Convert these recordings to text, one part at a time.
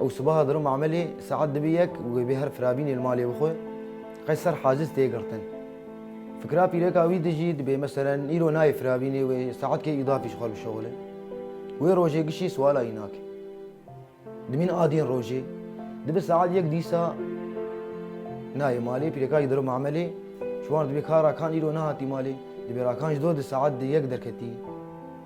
Ew sibeha dirom emelê saet dibê yek û wê bê her firavînê li malê bixwe. Qey ser haciz tê girtin. Fikira pîreka wî di jî dibê meselen îro nayê firavînê wê saet kê îdafî ji xwe bişewile. Wê rojê gişî siwala wî nake. Dimîn adîn rojê. Dibe saet yek dîsa nayê malê. Pîreka jî dirom emelê. Çiwan dibê ka Rakan îro nehatî malê. Dibê Rakan ji do di saet di yek derketî.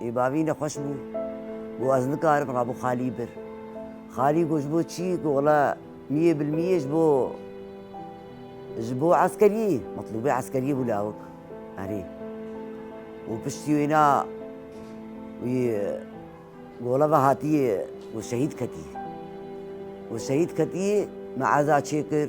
Ê bavî ne xweş bû. Got ez nikarim ra bo Xalî bir. Xalî got ji bo çî? Got wala miyê bil miyê ji bo ji bo eskeriyê metlûbê eskeriyê bû lawik. Erê. Û piştî wêna wî gola ve hatiyê got şehîd ketî. Got şehîd ketî me eza çêkir.